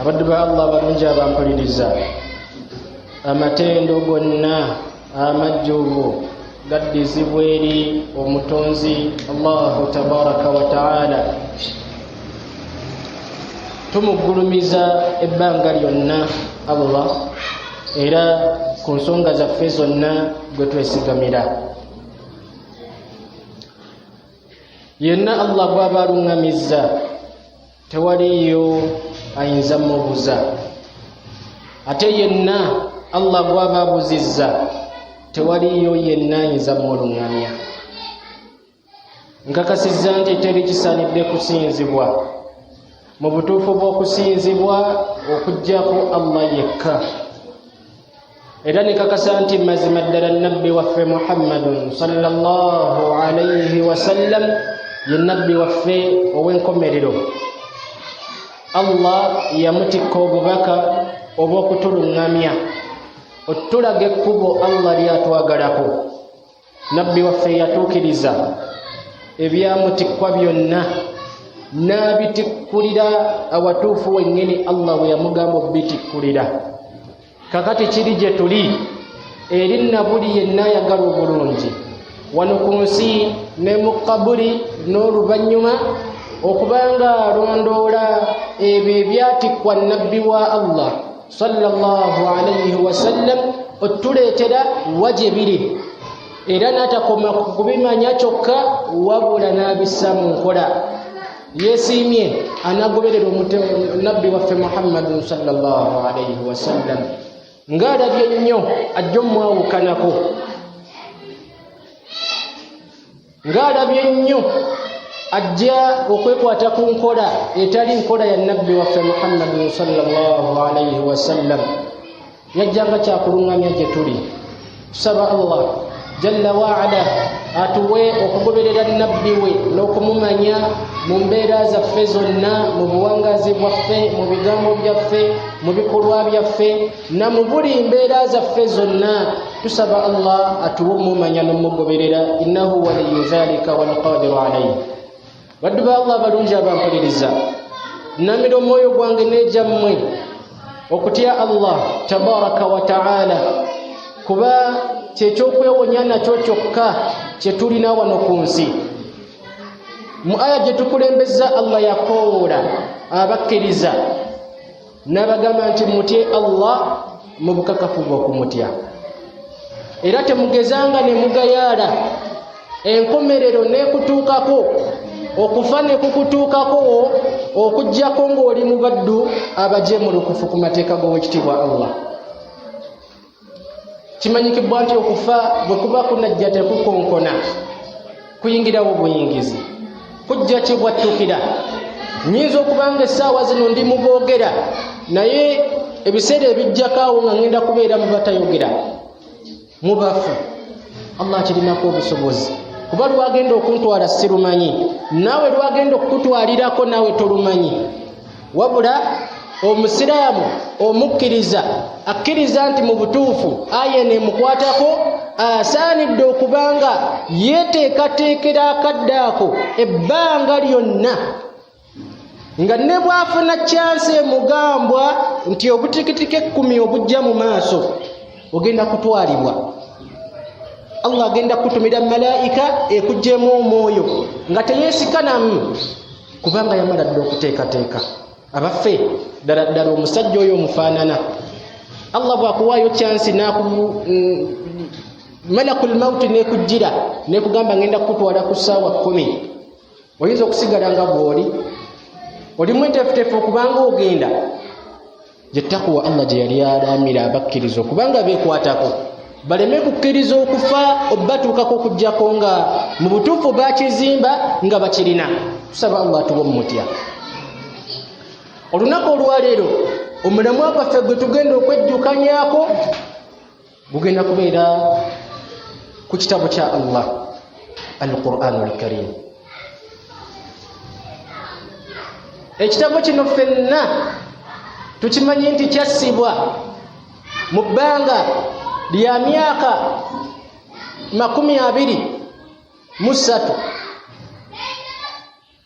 abaddu ba allah abalungi abampuliriza amatendo gonna amajjuvu gaddizibwa eri omutonzi allahu tabaraka wataala tumugulumiza ebbanga lyonna allah era ku nsonga zaffe zonna gwe twesigamira yenna allah gwaba aluŋŋamizza tewaliyo ayinza mubuza ate yenna allah gwaba abuzizza tewaliyo yenna ayinza muluŋŋamya nkakasizza nti teri kisanidde kusinzibwa mu butuufu bw'okusinzibwa okuggyako allah yekka era nekakasa nti mazima ddala nabbi waffe muhammadun sallallahu alaihi wasallam ye nabbi waffe ow'enkomerero allah yamutikka obubaka obw'okutuluŋŋamya otulaga ekkubo allah lyatwagalako nabbi waffe yatuukiriza ebyamutikkwa byonna n'abitikkulira awatuufu wennyini allah bwe yamugamba obitikkulira kakati kiri gye tuli eri nabuli yenna ayagala obulungi wano ku nsi ne mu kabuli n'oluvannyuma okuba ng'alondoola ebyo ebyatikkwa nabbi wa allah sallallahu alaihi wasallam otuleetera wa gye biri era n'atakoma ku kubimanya kyokka wabula n'abissa mu nkola yeesiimye anagoberera nabbi waffe muhammadin sallallahu alaihi wasallam ng'alabye nnyo ajja omwawukanako ng'alabye nnyo ajja okwekwata ku nkola etali nkola ya nabbi waffe muhammadin salllahalaihi wasallam yajjanga kyakuluŋŋamya gye tuli tusaba allah jalla waala atuwe okugoberera nabbi we n'okumumanya mu mbeera zaffe zonna mu buwangazi bwaffe mu bigambo byaffe mu bikolwa byaffe na mu buli mbeera zaffe zonna tusaba allah atuwe omumanya n'omugoberera innahu waliyu dhalika walqadiru alaihi baddu ba allah abalungi abampuliriza nnamira omwoyo gwange n'egyammwe okutya allah tabaraka wataala kuba kyekyokwewunya nakyo kyokka kyetulina wano ku nsi mu aya gyetukulembeza allah yakoowoola abakkiriza n'abagamba nti mutye allah mu bukakafu bwokumutya era temugezanga ne mugayaala enkomerero n'ekutuukako okufa ne kukutuukako okugyako ng'oli mu baddu abajemulukufu ku mateeka g'owekitiibwa allah kimanyikibwa nti okufa bwe kuba kunajja tekukonkona kuyingirawo buyingizi kujja kibwattukira nyinza okuba nga essaawa zino ndi mu boogera naye ebiseera ebijjako awo nga ŋŋenda kubeera mu batayogera mu bafu allah kirinako obusobozi kuba lwagenda okuntwala sirumanyi naawe lwagenda okukutwalirako naawe tolumanyi wabula omusiraamu omukkiriza akkiriza nti mu butuufu aya eno emukwatako asaanidde okuba nga yeteekateekera akadde ako ebbanga lyonna nga ne bwafuna kyansi emugambwa nti obutikitiko ekkumi obujja mu maaso ogenda kutwalibwa allah agenda kutumira malaika ekugyemu omwoyo nga teyesikanamu kubanga yamala dda okuteekateeka abaffe ddala ddala omusajja oyo omufaanana allah bwakuwaayo kyansi malakul mauti nekujjira nekugamba ngenda kukutwala ku ssaawa kkumi oyinza okusigala nga bwoli olimu enteefuteefu okubanga ogenda gye takuwa allah gye yali alaamira abakkiriza okubanga beekwatako baleme kukkiriza okufa obatuukako okuggyako nga mu butuufu bakizimba nga bakirina tusaba allah tuwa omumutya olunaku olwaleero omulamwa gwaffe gwe tugenda okwejjukanyako gugenda kubeera ku kitabo kya allah alquran alkarim ekitabo kino fenna tukimanyi nti kyassibwa mu bbanga lya myaka makumi abiri mu ssatu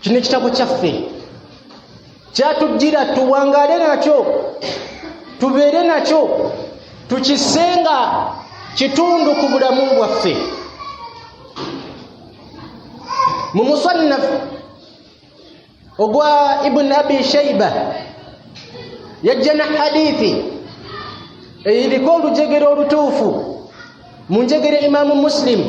kino ekitabo kyaffe kyatujjira tuwangaale nakyo tubeere nakyo tukisenga kitundu ku bulamu bwaffe mu musannaf ogwa ibuni abi shaiba yajja na hadithi eyiriko olujegere olutuufu mu njegere imaamu musilimu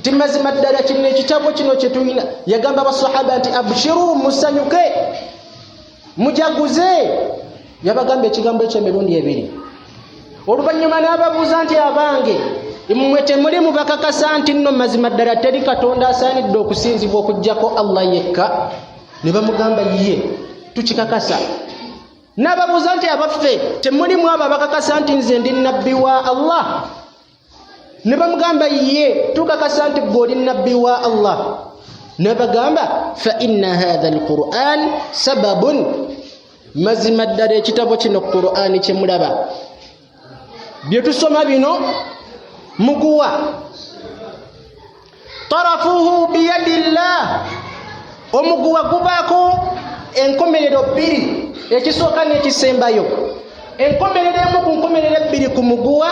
nti mazima ddala kino ekitabo kino kyetulina yagamba basahaba nti abshiru musanyuke mujaguze yabagamba ekigambo ekyemirundi ebiri oluvannyuma n'ababuuza nti abange mmwe temuli mubakakasa nti nno mazima ddala teri katonda asaanidde okusinzibwa okugyako allah yekka ne bamugamba ye tukikakasa n'ababuuza nti abaffe temulimu abo abakakasa nti nze ndi nabbi wa allah ne bamugamba ye tukakasa nti gwe oli nabbi wa allah nebagamba faina hatha alquran sababun mazima ddala ekitabo kino qurani kyemulaba byetusoma bino mukuwa tarafuhu biyadillah omuguwa gubaako enkomerero bbiri ekisooka n'ekisembayo enkomerero emu ku nkomerero ebbiri ku muguwa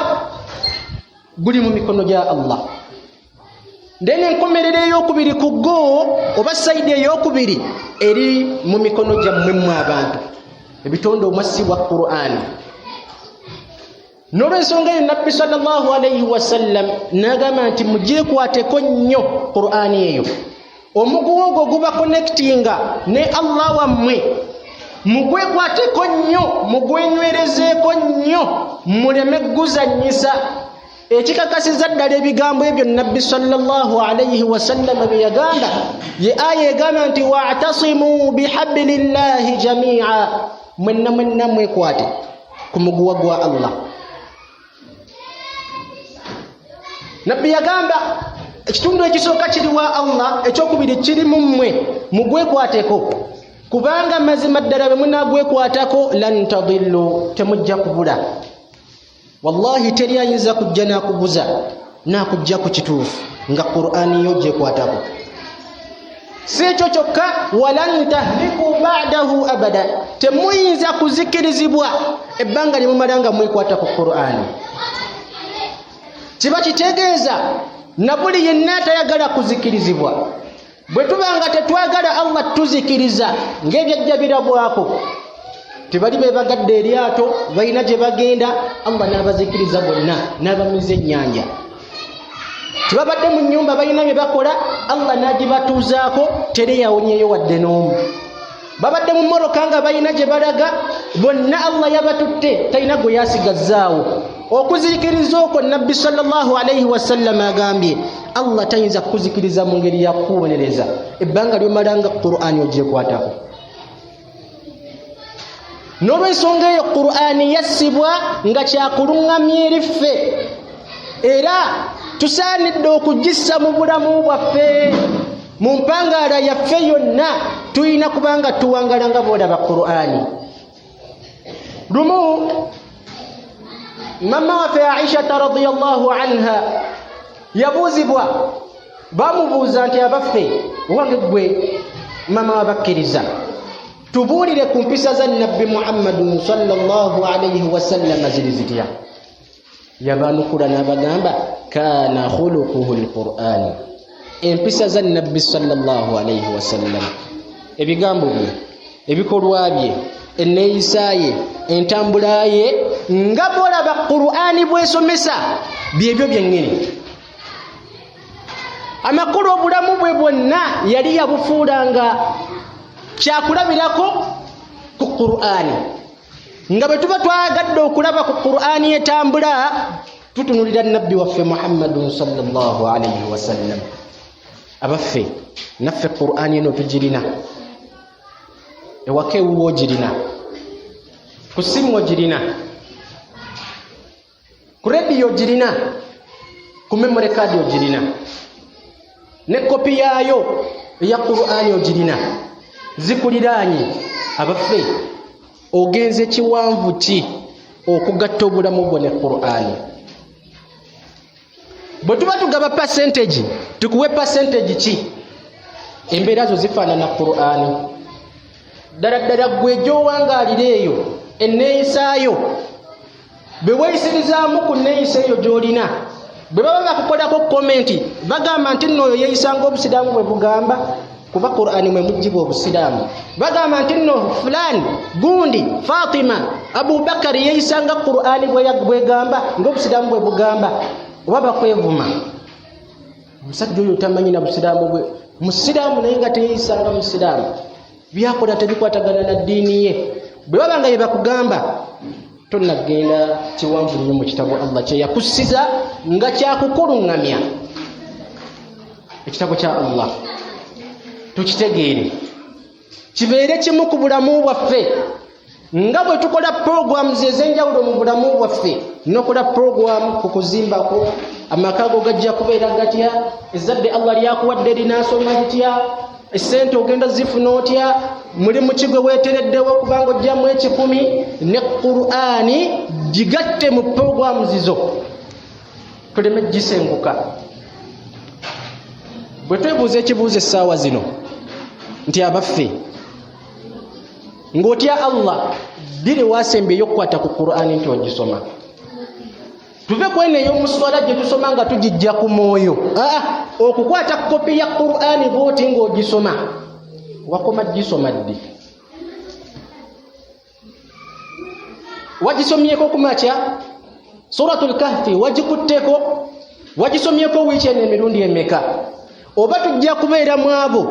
guli mu mikono gya allah then enkomerero eyokubiri ku go oba sayidi eyokubiri eri mu mikono gyammwe mwe abantu ebitonde omwassibwa qur'ani nolwensonga eyo nabbi salllah alaihi wasallam nagamba nti mugyekwateko nnyo qurani eyo omuguwa ogwo guba connectinga ne allah wammwe mugwekwateko nnyo mugwenywerezeeko nnyo muleme guzanyisa ekikakasiza ddala ebigambo ebyo nabbi salllah alaihi wasallama bye yagamba ye aya egamba nti watasimuu bihabli llahi jamia mwenna mwenna mwekwate ku muguwa gwa allah nabbi yagamba ekitundu ekisooka kiri wa allah ekyokubiri kiri mu mmwe mugwekwateko kubanga mazima ddala bwe munagwekwatako lan tadillu temujja kubula wallahi teri ayinza kujja nakubuza nakujja ku kituufu nga qurani yo gyekwatako si ekyo kyokka walan tahliku badahu abada temuyinza kuzikirizibwa ebbanga lyemumala nga mwekwata ku qurani kiba kitegeeza nabuli yenna atayagala kuzikirizibwa bwe tuba nga tetwagala allah tuzikiriza ng'ebyajja birabwako tebali bebagadde eryato balina gye bagenda allah n'abazikiriza bonna n'abamiza ennyanja tebabadde mu nnyumba balina bye bakola allah n'agibatuuzaako teri yawonyeyo wadde n'omu babadde mu mmotoka nga balina gye balaga bonna allah yabatutte talina gwe yasigazzaawo okuzikiriza okwo nabbi salllah alaihi wasallama agambye allah tayinza kukuzikiriza mu ngeri yakuwonereza ebbanga lyomalanga qurani ogyekwatako n'olwensonga eyo qur'ani yassibwa nga kyakuluŋŋamya eri ffe era tusaanidde okugissa mu bulamu bwaffe mu mpangaala yaffe yonna tulina kuba nga tuwangala nga boolaba qur'ani lumu mama waffe aishata radiallahu anha yabuuzibwa bamubuuza nti abaffe wange gwe mama wabakkiriza tubuulire ku mpisa za nabbi muhammadun salllah alaihi wasallama ziri zitya yabanukula n'abagamba kaana khulukuhu lqurani empisa za nabbi salllah alaihi wasallama ebigambo bye ebikolwa bye enneeyisa ye entambula ye nga bolaba qurani bwesomesa byebyo byennyini amakulu obulamu bwe bwonna yali yabufuula nga kyakulabirako ku qur'ani nga bwe tuba twagadde okulaba ku qur'ani etambula tutunulira nabbi waffe muhammadun salllahalaihi wasallam abaffe naffe qur'ani eno tugirina ewaka ewuwo ogirina ku simu ogirina ku rediyo ogirina ku memory card ogirina ne kopi yaayo eya qurani ogirina zikuliraanye abaffe ogenze kiwanvu ki okugatta obulamu bwo ne qurani bwe tuba tugaba percentage tukuwe percentage ki embeera zo zifaanana qur'ani ddala ddala gwe gyowangaalira eyo enneeyisaayo bwe weeyisirizaamu ku nneeyisa eyo gy'olina bwe baba bakukolako komenti bagamba nti nno oyo yeeyisanga obusiraamu bwe bugamba kuba qurani mwe mujjibwa obusiraamu bagamba nti nno fulaani gundi fatima abubakari yeeyisanga qurani bwegamba ngaobusiraamu bwe bugamba oba bakwevuma omusajja oyo tamanyi na busiraamu bwe musiraamu naye nga teyeeyisanga musiraamu byakola tebikwatagana na ddiini ye bwe baba nga yebakugamba tonnagenda kiwanvu nnyo mu kitabo allah kyeyakussiza nga kyakukuluŋŋamya ekitabo kya allah tukitegeere kibeere kimu ku bulamu bwaffe nga bwe tukola programs ez'enjawulo mu bulamu bwaffe nokola program ku kuzimbako amaka go gajja kubeera gatya ezzadde allah lyakuwadde linaasoma litya esente ogenda zifuna otya mulimu kigwe wetereddewo okubanga ojjamu ekikumi ne qurani gigatte mu programu zizo tuleme gisenguka bwe twebuuza ekibuuzo essaawa zino nti abaffe ng'otya allah biri wasembyeyo okukwata ku qurani nti ogisoma tuve kweno eyomuswala gye tusoma nga tugijja ku mwoyo aa okukwata kopi ya qurani bwoti ng'ogisoma wakoma gisoma ddi wagisomyeko kumakya suratu lkahfi wagikutteko wagisomyeko wiiki eno emirundi emeka oba tujja kubeera mu abo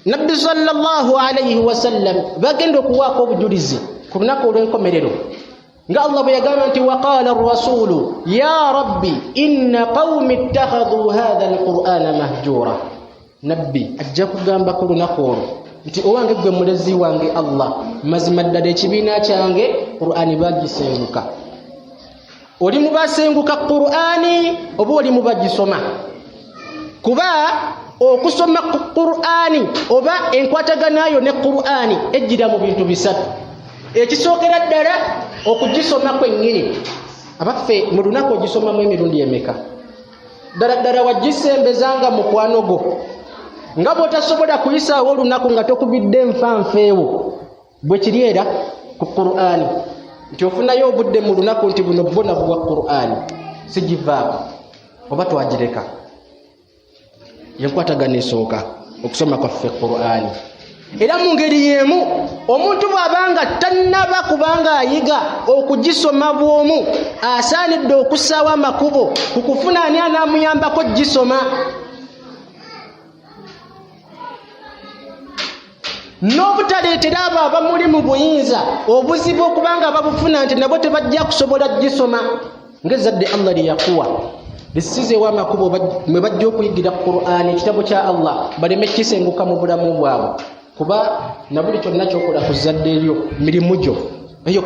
nabbi sallallahu alaihi wasallam bagenda okuwaako obujulizi ku lunaku olw'enkomerero nga allah bwe yagamba nti waqala rasulu ya rabbi inna qaumi ittakhadhu hadha alqur'ana mahjura nabbi ajja kugamba ku lunaku olwo nti owange ggwe mulezi wange allah mazima ddala ekibiina kyange qur'ani bagisenguka oli mu basenguka qur'ani oba oli mu bagisoma kuba okusoma qur'ani oba enkwataganayo ne qur'ani ejjira mu bintu bisatu ekisookera ddala okugisoma kwennyini abaffe mu lunaku ogisomamu emirundi emeka ddala ddala wagisembeza nga mukwano gwo nga bwotasobola kuyisaawo olunaku nga tokubidde nfanfeewo bwe kiri era ku qur'ani nti ofunayo obudde mu lunaku nti buno bona buwa qur'ani sigivaako oba twagireka yenkwatagana esooka okusoma kwaffe qur'ani era mu ngeri y'emu omuntu bw'abanga tannaba kubanga ayiga okugisoma bw'omu asaanidde okussaawo amakubo ku kufuna ani anaamuyambako gisoma n'obutaleetera abo abamuli mu buyinza obuzibu okubanga babufuna nti nabo tebajja kusobola gisoma ngezadde allah lyeyakuwa lisizeewo amakubo mwe bajja okuyigira qurani ekitabo kya allah baleme kisenguka mu bulamu bwabwe kuba nabuli kyonna kyokola ku zadde eryo mirimu gyo eyo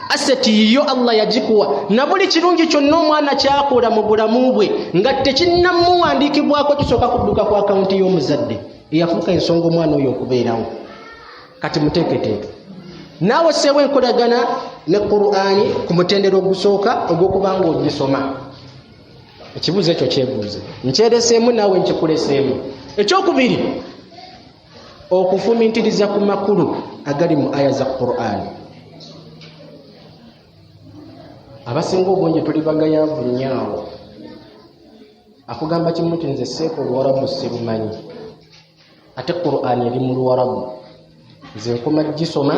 aseti yiyo allah yagikuwa na buli kirungi kyonna omwana kyakola mu bulamu bwe nga tekinnamuwandiikibwako kisooka kudduka ku akawunti y'omuzadde eyafuuka ensonga omwana oyo okubeerawo kati muteeketeeke naawe seewo enkolagana ne qurani ku mutendero ogusooka ogw'okuba nga ogisoma ekibuuzo ekyo kyebuuze nkyereseemu naawe nkikuleseemu ekyokubiri okufumintiriza ku makulu agali mu aya za qurani abasinga obungi tuli bagayavu nyaawo akugamba kimu ti nze seeka oluwarabu sibumanyi ate qurani eri mu luwarabu nze nkoma gisoma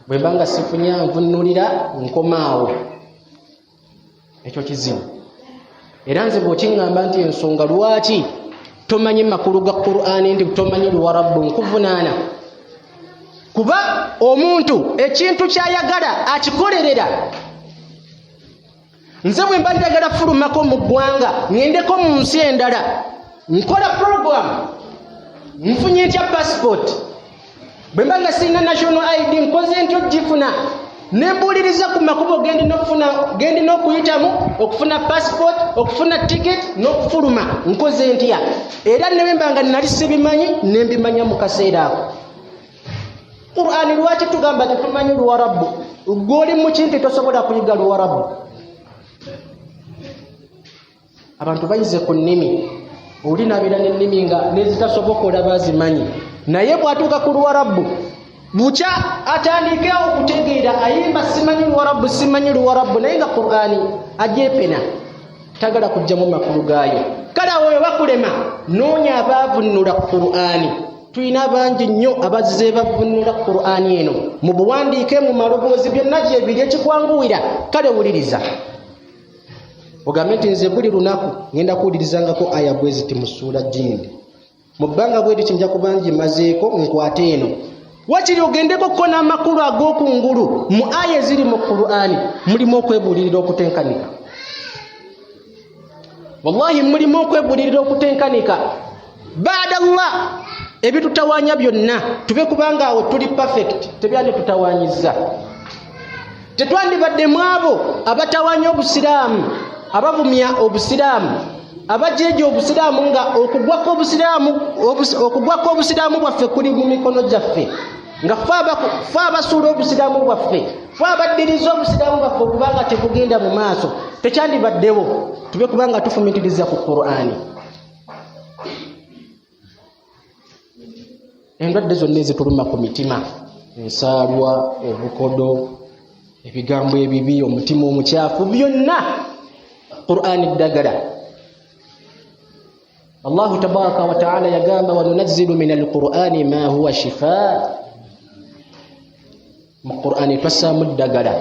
bwemba nga sifunya nvunulira nkomaawo ekyo kizibu era nze bwekiŋŋamba nti ensonga lwaki tomanyi makulu ga qur'ani nti tomanyi luwarabbu nkuvunaana kuba omuntu ekintu kyayagala akikolerera nze bwe mba njagala fulumako mu ggwanga ŋendeko mu nsi endala nkola puroguramu nfunye ntya pasipooti bwe mba nga sirina national id nkoze nti ogifuna nembuuliriza ku makubo gendi n'okuyitamu okufuna passport okufuna ticket n'okufuluma nkoze ntya era nebemba nga nali sibimanyi nembimanya mu kaseera ako qurani lwaki tugamba tetumanyi luwarabu gwoli mukimpi tosobola kuyiga luwarabu abantu bayize ku nnimi oli nabeera n'ennimi nga nezitasoboka olaba azimanyi naye bwatuuka ku luwarabu bukya atandike okutegeera ayimba simanyi luwarabu simanyi luwarabu naye nga qurani ajepena tagala kujjamu makulu gaayo kale awo oyo bakulema noonya abaavunnula qurani tulina bangi nnyo abazze bavunnula qurani eno mu buwandiike mu maloboozi byonna gyebiri ekikwanguwira kale wuliriza ogambye nti nze buli lunaku ngenda kuwulirizangako aya bwe ziti mu ssuula jindi mu bbanga bwe liti nja kuba ngimazeeko nkwate eno wakiri ogendeko ko n'amakulu ag'oku ngulu mu aya eziri mu qur'ani mulimu okwebuulirira okutenkanika wallahi mulimu okwebuulirira okutenkanika baada llah ebitutawaanya byonna tube kubanga awo tuli perfect tebyanditutawaanyizza tetwandibadde mu abo abatawanya obusiraamu abavumya obusiraamu abajeeja obusiraamu nga okugwako obusiraamu okugwako obusiraamu bwaffe kuli mu mikono gyaffe nga fe abasuula obusiraamu bwaffe fe abaddiriza obusiraamu bwaffe okubanga tekugenda mu maaso tekyandibaddewo tube kubanga tufumitiriza ku qur'ani endwadde zonna ezituluma ku mitima ensaalwa obukodo ebigambo ebibi omutima omukyafu byonna qurani ddagala allahu tabaraka wataala yagamba wanunazzilu min alqurani ma huwa shifa mu qurani twassaamu ddagala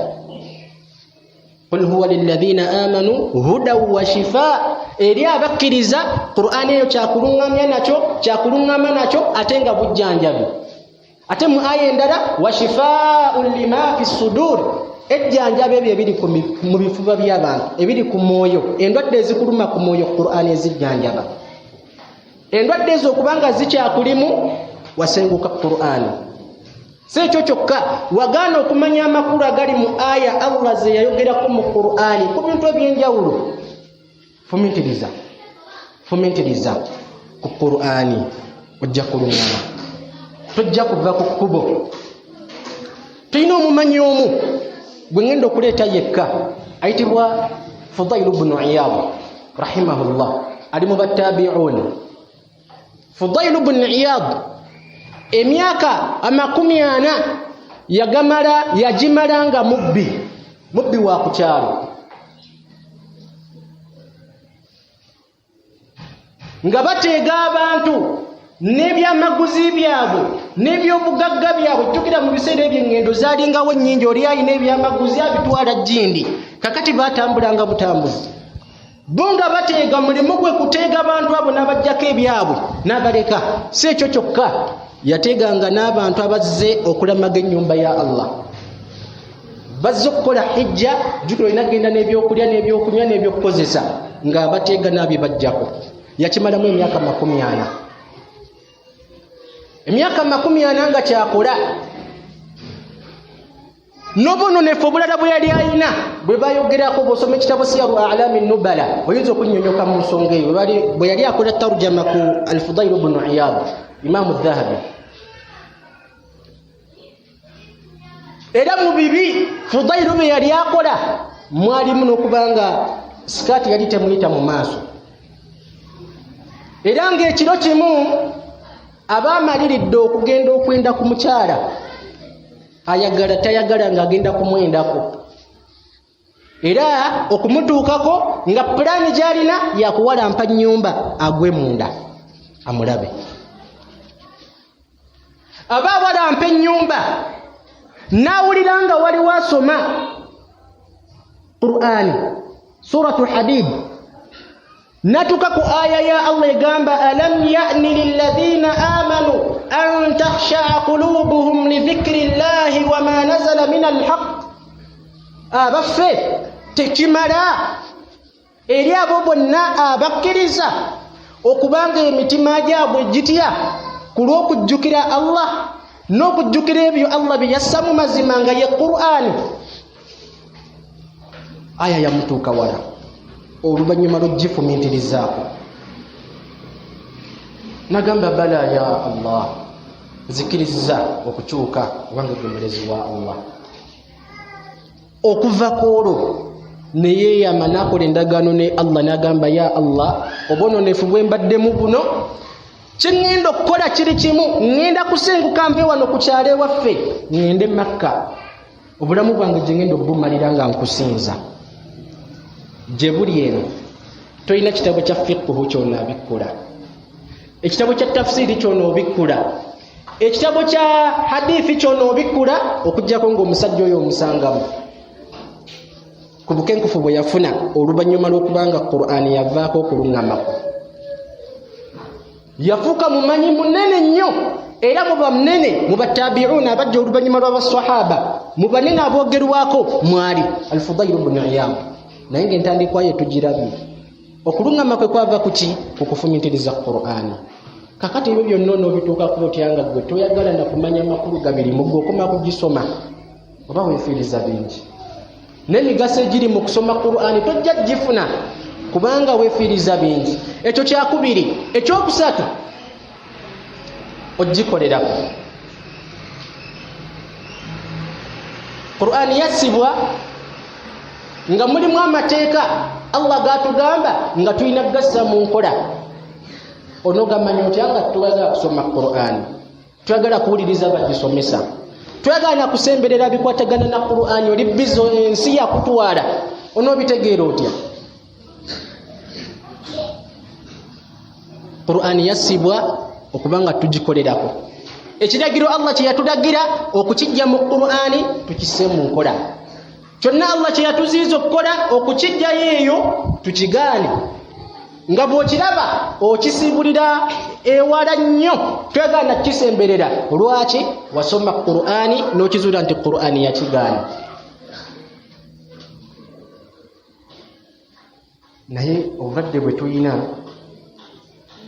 qul huwa lilladhina amanu hudan wa shifa eri abakkiriza qur'ani eyo kyakuluŋŋamya nakyo kyakuluŋŋama nakyo ate nga bujjanjabi ate mu aya endala wa shifaun lima fi sudur ejjanjaba ebyo ebiri mu bifuba by'abantu ebiri ku mwoyo endwadde ezikuluma ku mwoyo qur'ani ezijjanjaba endwadde ezo okubanga zikyakulimu wasenguka qurani si ekyo kyokka wagaana okumanya amakulu agali mu aya allah ze yayogerako mu qurani ku bintu ebyenjawulo fumintiriza fumintiriza ku qurani ojja kulungama tojja kuva ku kkubo tulina omumanyi omu gwe ŋenda okuleeta yekka ayitibwa fudailu bunu iyabu rahimahullah ali mu battabiun fudailu bunu iyabu emyaka amakumi ana yagamala yagimala nga mubbi mubbi wa ku kyalo nga bateega abantu n'ebyamaguzi byabwe n'ebyobugagga byabwe jjukira mu biseera ebyo eŋŋendo zaalingawo nnyingi oli alina ebyamaguzi abitwala jjindi kakati baatambulanga butambuzi bo nga bateega mulimu gwe kuteega abantu abo n'abajjako ebyabwe n'abaleka si ekyo kyokka yateeganga n'abantu abazze okulamaga ennyumba ya allah bazze okukola hijja jukira olina genda n'ebyokulya n'ebyokunywa n'ebyokukozesa nga abateega naabye bajjako yakimalamu emyaka makumi ana emyaka makumi ana nga kyakola nobononefu obulala bwe yali alina bwe bayogerako bwosoma ekitabo siyaru alami nubala oyinza okunyonyoka mu nsonga eyo bwe yali akola tarjama ku alfudairu bunu iyabu imamu dhahabi era mu bibi fudairu bye yali akola mwalimu n'okuba nga sikaati yali temuyita mu maaso era ng'ekiro kimu aba amaliridde okugenda okwenda ku mukyala ayagala tayagala ng'agenda kumwendako era okumutuukako nga pulaani gy'alina yakuwalampa nnyumba agwe munda amulabe aba awalampa ennyumba n'awulira nga waliwo asoma qur'ani suratu hadibu natuka ku aya ya allah egamba alam yani liladhina amanu an takhshaa qulubuhum lidhikri llahi wama nazala min alhaq abaffe tekimala eri abo bonna abakkiriza okubanga emitima gyabwe gitya ku lw'okujjukira allah n'okujjukira ebyo allah bye yassa mu mazima nga ye qur'ani aya yamutuuka wala oluvannyuma lwogifumintirizaako nagamba bala ya allah nzikiriza okukyuka obange gwe mulezi wa allah okuva ku olwo neyeyama nakola endagaano ne allah nagamba ya allah obwononefu bwe mbaddemu buno kyeŋŋenda okukola kiri kimu ŋŋenda kusenguka mpe wano ku kyalo ewaffe ŋŋende makka obulamu bwange gyengenda okubumalira nga nkusinza gye buli eno tolina kitabo kya fiqhu kyona abikkula ekitabo kya tafsiri kyona obikkula ekitabo kya hadithi kyona obikkula okujjako ngaomusajja oyo omusangamu ku bukenkufu bwe yafuna oluvannyuma lw'okubanga qur'ani yavaako okuluŋŋamako yafuuka mumanyi munene nnyo era muba munene mu batabiuuna abajja oluvannyuma lw'abasahaba mu banene aboogerwako mwali alfudairu bnu iyamu naye ng'entandikwayo tugirabye okulungama kwe kwava ku ki ku kufumitiriza qur'ani kakati ebyo byonna onoobituukako otya nga ggwe toyagala na kumanya makulu gabiri mu gwe okoma kugisoma oba wefiiriza bingi n'emigaso egiri mu kusoma qur'ani tojja gifuna kubanga wefiiriza bingi ekyo kyakubiri ekyokusatu ogikolerako qur'ani yassibwa nga mulimu amateeka allah gatugamba nga tulina kugassa mu nkola onogamanya otya nga tubaza kusoma qur'ani twagala kuwuliriza bagisomesa twagala nakusemberera bikwatagana na qurani oli bizo ensi yakutwala onobitegeera otya qurani yassibwa okuba nga tugikolerako ekiragiro allah kyeyatulagira okukijja mu qurani tukisse mu nkola kyonna allah kye yatuziyiza okukola okukijjayo eyo tukigaane nga bw'okiraba okisibulira ewala nnyo twegana kukisemberera lwaki wasoma qur'ani n'okizuula nti qur'ani yakigaana naye obulwadde bwe tulina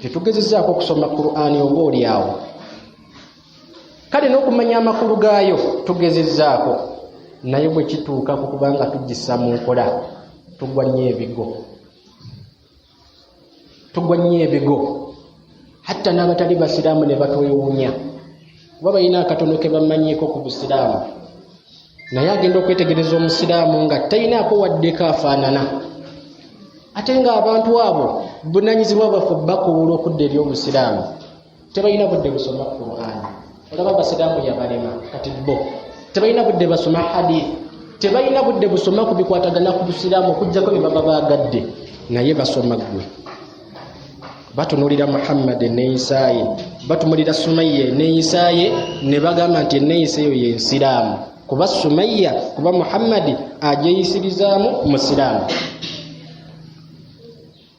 tetugezezaako okusoma qurani oba oli awo kale n'okumanya amakulu gaayo tugezezaako naye bwe kituuka ku kubanga tugisa mu nkola tugwa nnyo ebigo tugwa nnyo ebigo hatta n'abatali basiraamu ne batwewuunya kuba balina akatono ke bamanyiiko ku busiraamu naye agenda okwetegereza omusiraamu nga talinaako waddeko afaanana ate ng'abantu abo bunanyizibwa baffe bakuwula okudda eri obusiraamu tebalina budde busoma qur'ani olaba abasiraamu yabalema kati bo tebalina budde basoma hadith tebalina budde busoma ku bikwatagana ku busiraamu okujjako bye baba baagadde naye basoma ggwe batunulira muhammadi neyisaaye batumulira sumayya eneyisaaye ne bagamba nti eneyisa eyo yensiraamu kuba sumayya kuba muhammadi agyeyisirizaamu musiraamu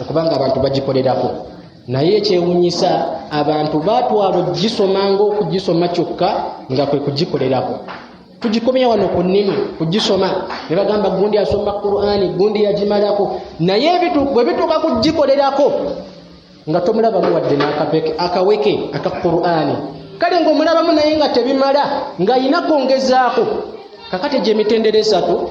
okubanga abantu bagikolerako naye ekyewunyisa abantu batwala ogisoma ngaokugisoma kyokka nga kwe kugikolerako tugikomya wano ku nnimi kugisoma ne bagamba gundi asoma qurani gundi yagimalako naye bwe bituuka kugikolerako nga tomulabamu wadde nakapeke akaweke aka qurani kale ngaomulabamu naye nga tebimala ng'ayina kwongezaako kakati gyemitendera esatu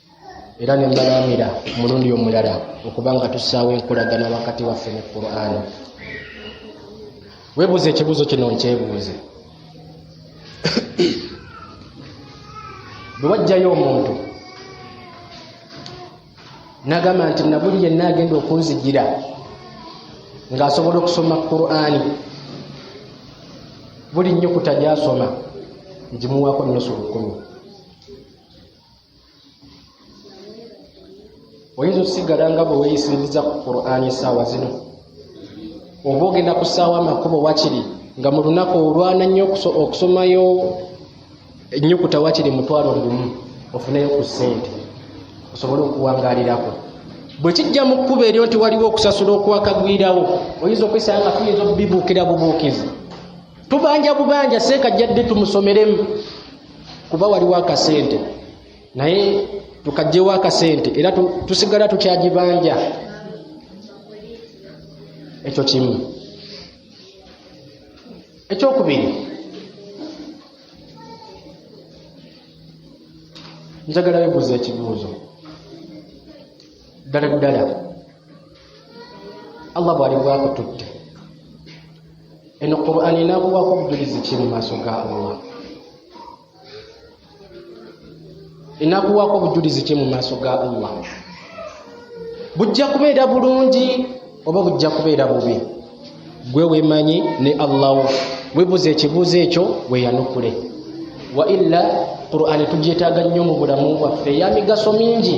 era ne mbalaamira omulundi omulala okuba nga tussaawo enkolagana wakati waffe ne qur'ani webuuza ekibuuzo kino nkyebuuze bwe wajjayo omuntu nagamba nti nabuli yenna agenda okunzigira ng'asobola okusoma qur'ani buli nnyukuta gyasoma ngimuwaako nnusu lukumi oyinza okusigala nga bwe weyisinziza ku qurani essaawa zino oba ogenda kusaawa amakubo wakiri nga mu lunaku olwana nnyo okusomayo ennyukuta wakiri mutwalo lumu ofuneyo ku ssente osobole okuwangalirako bwe kijja mu kkuba eryo nti waliwo okusasula okwakagwirawo oyinza okwesanga nga tuyinza okubibuukira bubuukizi tubanja bubanja seeka jjadde tumusomeremu kuba waliwo akasente naye tukajjewo akasente era tusigala tukyagibanja ekyo kimu ekyokubiri njagala bebuuza ekibuuzo ddala ddala allah bwali bwakututte eno qurani enakuwako obujulizi ki mu maaso ga allah enakuwako obujulizi ki mu maaso ga allah bujja kubeera bulungi oba bujja kubeera bubi gwe wemanyi ne allah webuza ekibuuzo ekyo weyanukule waila qurani tugyetaaga nnyo mu bulamu bwaffe yamigaso mingi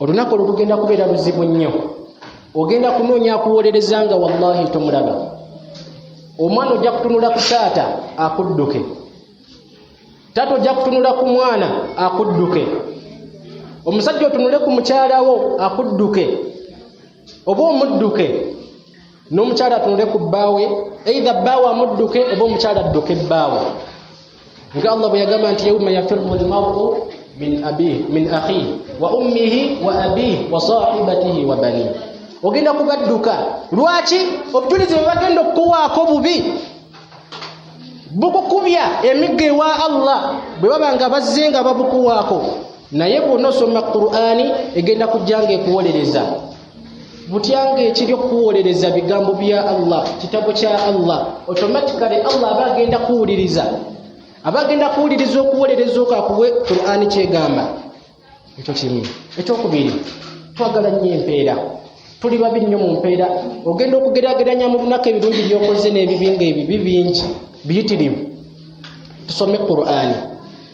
olunaku olwo lugenda kubeera luzibu nnyo ogenda kunoonya akuwolereza nga wallahi tomulaba omwana ojja kutunula ku taata akudduke taata ojja kutunula ku mwana akudduke omusajja otunule ku mukyalawo akudduke oba omudduke n'omukyala atunule ku bbaawe eidha bbaawe amudduke oba omukyala adduke bbaawe nga allah bwe yagamba nti yauma yafiru lmaru min abih min akhihi wa ummihi wa abih wa sahibatihi wa bani ogenda kubadduka lwaki obujulizi bwe bagenda okukuwaako bubi bukukubya emiggo ewa allah bwe baba nga bazze nga babukuwaako naye bw'onosoma qur'ani egenda kujja nga ekuwolereza butyanga ekiri okukuwolereza bigambo bya allah kitabo kya allah automatically allah aba agenda kuwuliriza aba agenda kuwuliriza okuwolereza oko akuwe qurani kyegamba ekyo kimu ekyokubiri twagala nnyo empeera tuli babi nnyo mu mpeera ogenda okugerageranya mu lunaku ebirungi byokoze n'ebibi nga ebibi bingi biyitirivu tusome qurani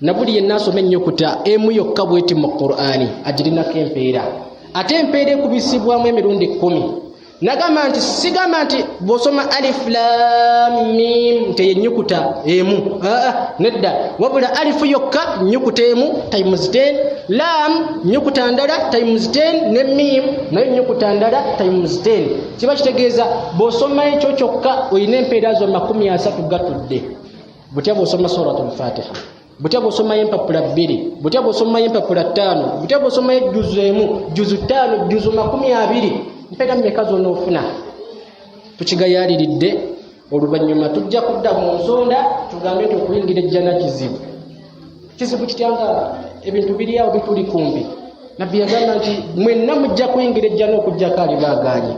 nabuli yenna asoma ennyukuta emu yokka bweti mu qur'ani agirinako empeera ate empeera ekubisibwamu emirundi kkumi nagamba nti sigamba nti bwosoma aliflamim nti enyukuta emu aa nedda wabula alifu yokka nyukuta emu times 10 lam nyukuta ndala times 10 ne mim naye nyukuta ndala times 10 kiba kitegeeza bwosoma ekyo kyokka olina empeera zo makumi asatu gatudde butya bwosoma suratu lfatiha butya bwosomayo empapula bbiri butya bwosomayo empapula ttaano butya bwosomayo ejjuzu emu jjuzu ttaano jjuzu makumi abiri mpera mumeka zona ofuna tukigayaliridde oluvannyuma tujja kudda mu nsonda tugambe nti okuyingira ejjana kizibu kizibu kitya nga ebintu biri awo bituli kumbi nabbi yagamba nti mwenna mujja kuyingira ejjana okugyako ali baagaanye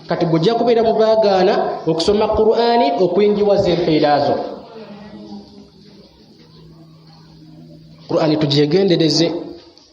kati gujja kubeera mu baagaana okusoma qur'ani okuyingiwaza empeera zo qur'ani tugyegendereze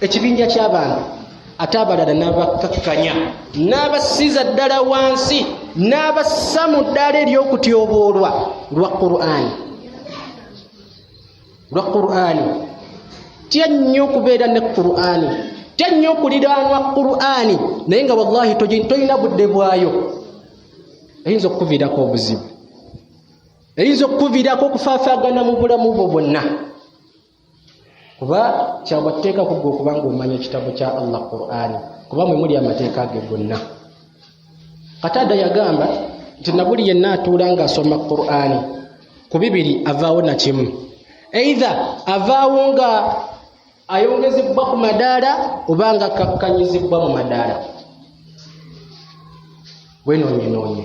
ekibinja kyabantu ate abalala nabakkakkanya n'abasiza ddala wansi n'abassa mu ddaala ery'okutyoboolwa lwa qur'ani lwa qur'ani tya nnyo okubeera ne qur'ani tya nnyo okuliraanwa qur'ani naye nga wallahi tolina budde bwayo eyinza okukuviirako obuzibu eyinza okukuviirako okufaafaagana mu bulamu bwo bwonna kuba kyagwa tuteeka kugga okubanga omanya ekitabo kya allah qurani kuba mwe muli amateeka ge gonna kataada yagamba nti nabuli yenna atuula ngaasoma qurani ku bibiri avaawo nakimu eitha avaawo nga ayongezebbwa ku madaala oba nga kakkanyizibbwa mu madaala wenoonyenoonye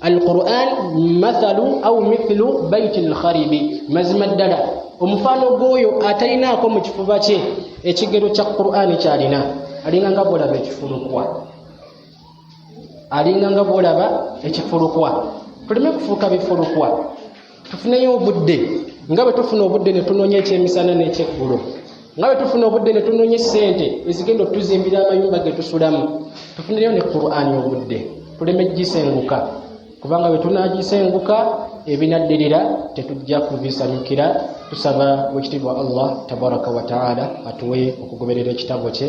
alquran mathalu au mithlu baiti lkharibi mazima ddala omufaano gw'oyo atalinaako mu kifuba kye ekigero kya qurani kyalina alinga nga bwolaba ekifulukwa alinga nga bwolaba ekifulukwa tuleme kufuuka bifulukwa tufuneyo obudde nga bwe tufuna obudde ne tunoonya ekyemisana n'ekyeggulo nga bwe tufuna obudde ne tunoonya essente ezigenda otuzimbira amayumba ge tusulamu tufuneyo ne qurani obudde tuleme gisenguka kubanga bwe tunagisenguka ebinaddirira tetujja kubisanyukira tusaba wekitiibwa allah tabaraka wataala atuwe okugoberera ekitabo kye